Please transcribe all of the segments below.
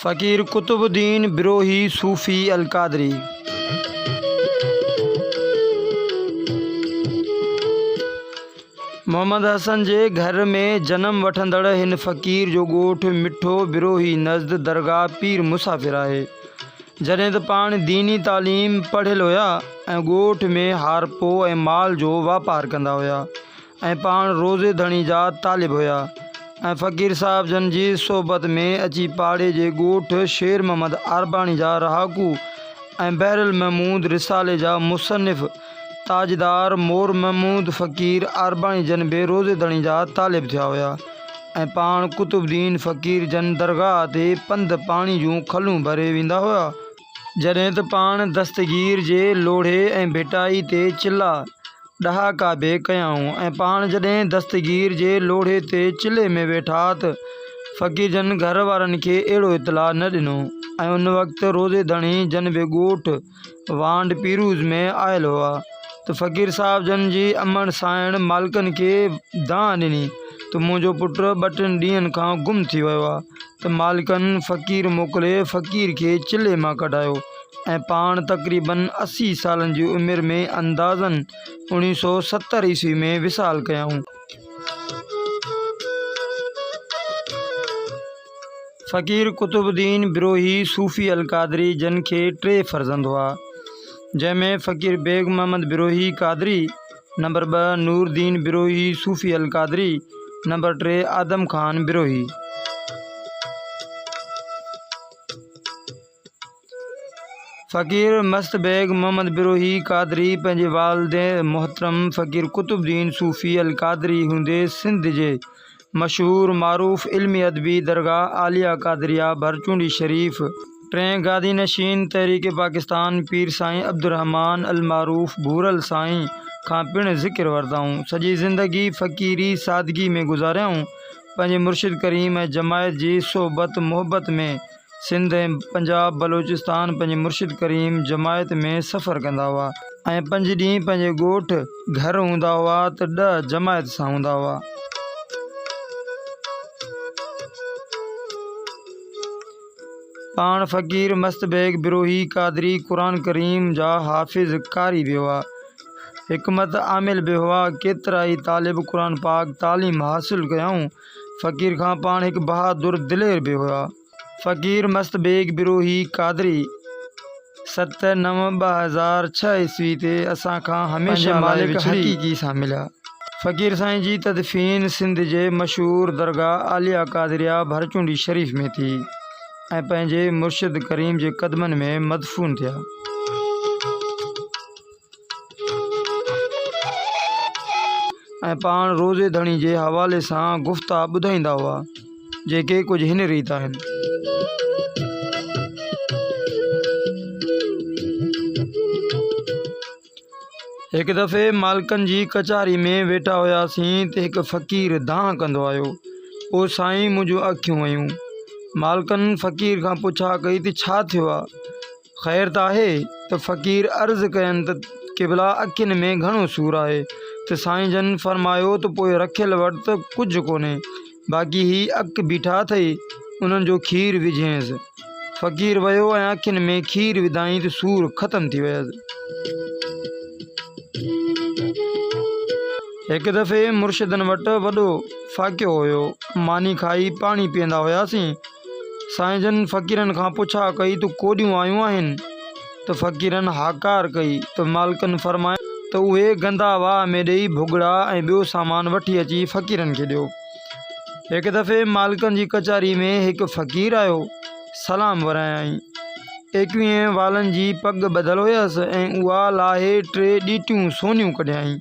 فقير قطب الدين بروهي صوفي القادري محمد حسن جي گهر ۾ جنم وٺندڙ هن فقير جو ڳوٺ مٺو بروهي نزد درگاهه پير مسافر آهي جڏهن ته پاڻ ديني تعليم پڙهيل هيا ۽ ڳوٺ ۾ هارپو ۽ مال جو واپار ڪندا هيا ۽ پاڻ روزي ڌڻي جا طالب هيا ۽ فقير صاحب جن جي صحبت ۾ اچي پاڙي جي ڳوٺ شير محمد عارباڻي جا رهاڪو ۽ بحرالمحمود رسالي جا مصنف تاجدار مور محمود فقير عارباڻي جن به روضي ڌڻي جا طالب ٿيا هيا ۽ پاڻ قطب الدين فقير جن درگاهه تي پنڌ پاڻي جون کلون ڀري ويندا هيا، جڏهن ته پاڻ دستگير جي لوڙهي ۽ ڀٽائي تي چلها ڏهاڪا به ڪيائون ۽ پاڻ جڏهن دستگير جي لوڙهي تي چلهي ۾ ويٺا ته فقير جن گهر وارن کي اهڙو اطلاع نه ڏنو ۽ ان وقت روضي ڌڻي جن به ڳوٺ وانڊ پيروز ۾ آيل هئا ته فقير صاحب جن جي امڙ سانئڻ مالڪن کي دانهن ڏني ته منهنجو پٽ ٻه ٽن ڏينهن کان گم ٿي ويو آهي ته مالڪن فقير موڪلي فقير کي چلهي مان ڪڍايو ۽ پاڻ تقريبن اسي سالن جي عمر ۾ اندازن اوڻيهه سؤ ستر عيسوي ۾ وصال ڪيائون. فقير قطب الدين بروهي صوفي القادري جن کي ٽي فرزند هئا، جنهن ۾ فقير بيگ محمد بروهي قادري، نمبر ٻه، نور الدين بروهي صوفي القادري، نمبر ٽي، آدم خان بروهي. فقير مست بيگ محمد بروهي قادري پنهنجي والد محترم فقير قطب الدين صوفي القادري هوندي سنڌ جي مشهور معروف علمي ادبي درگاهه عاليه قادريه ڀرچونڊي شريف ٽئين گادي نشين تحريڪ پاڪستان پير سائين عبدالرحمان المعروف ڀورل سائين کان پڻ ذڪر ورتائون. سڄي زندگي فقيري سادگي ۾ گذاريائون. پنهنجي مرشد ڪريم ۽ جماعت جي صحبت محبت ۾ سنڌ ۽ پنجاب بلوچستان پنهنجي مرشد ڪريم جماعت ۾ سفر ڪندا هئا ۽ پنج ڏينهن پنهنجي ڳوٺ گهر هوندا هئا ته ڏهه جماعت سان هوندا هئا. پاڻ فقير مست بيگ بروهي قادري قرآن ڪريم جا حافظ قاري به هئا. حڪمت عامل به هئا. ڪيترائي طالب قرآن پاڪ تعليم حاصل ڪيائون. فقير خان پاڻ هڪ بهادر دلير به هئا. فقير مست بيگ بروهي قادري ست نو ٻه هزار ڇهه عيسوي تي اسان کان هميشه لاء وڇڙي پنهنجي مالڪ حقيقي سان مليا. فقير سائين جي تدفين سنڌ جي مشهور درگاهه عاليه قادريه ڀرچونڊي شريف ۾ ٿي ۽ پنهنجي مرشد ڪريم جي قدمن ۾ مدفون ٿيا. ۽ پاڻ روزي ڌڻي جي حوالي سان گفتا ٻڌائيندا هئا، جيڪي ڪجهه هن ريت آهن. هڪ دفعي مالڪن جي ڪچهري ۾ ويٺا هياسين ته هڪ فقير دانهن ڪندو آيو، او سائين منهنجون اکيون ويون. مالڪن فقير کان پڇا ڪئي ته ڇا ٿيو آ؟ خير ته آهي ته فقير عرض ڪين ته قبلا اکين ۾ گهڻو سور آهي ته سائين جن فرمايو ته پوء رکيل وٽ ته ڪجهه ڪونهي باقي هي اک بيٺا اٿئي انهن جو کير وجهينس. فقير ويو ۽ اکين ۾ کير وڌائين ته سور ختم ٿي ويس. هڪ دفعي مرشدن وٽ وڏو فاقيو هيو ماني کائي پاڻي پيئندا هياسين سائين جن فقيرن کان پڇا ڪئي ته ڪوڏيون آيون آهن؟ ته فقيرن هاڪار ڪئي ته مالڪن فرمايو ته اهي گندا واهه ۾ ڏيئي ڀڳڙا ۽ ٻيو سامان وٺي اچي فقيرن کي ڏيو. هڪ دفعي مالڪن جي ڪچهري ۾ هڪ فقير آيو، سلام ورايائين. ايڪويهين والن جي پڳ ٻڌل هيس ۽ اها لاهي ٽي ڏيٽيون سونيون ڪڍيائين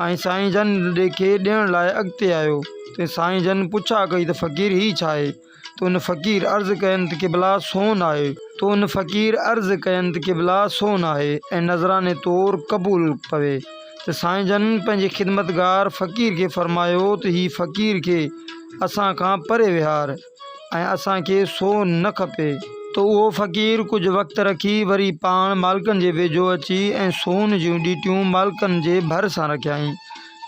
۽ سائين جن ڏي کي ڏيڻ لاء اڳتي آيو. تنهن سائين جن پڇا ڪئي ته فقير هي ڇا آهي؟ تو ان فقير عرض ڪين ته قبلا سون آهي. تو ان فقير عرض ڪين ته قبلا سون آهي ۽ نذراني طور قبول پوي. ته سائين جن پنهنجي خدمتگار فقير کي فرمايو ته هي فقير کي اسان کان پري وهار. ۽ اسان کي سو نه کپي. ته اهو فقير ڪجهه وقت رکي وري پاڻ مالڪن جي ويجهو اچي ۽ سون جون ڏيٽيون مالڪن جي ڀر سان رکيائين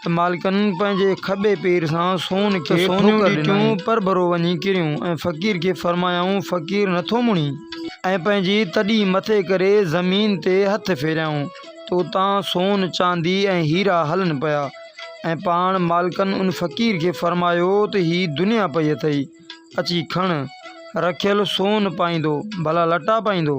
ته مالڪن پنهنجي کٻي پير سان سون کي ٺوڪر ڏنائين. ته سون جون ڏيٽيون پرڀرو وڃي ڪريون ۽ فقير کي فرمايائون، فقير نٿو مڙين؟ ۽ پنهنجي تڏي مٿي ڪري زمين تي هٿ ڦيريائون ته اتان سون، چاندي ۽ هيرا هلن پيا. ۽ پاڻ مالڪن ان فقير کي فرمايو ته هي دنيا پئي اٿئي، اچي کڻ، رکيل سون پائيندو، ڀلا لٽا پائيندو.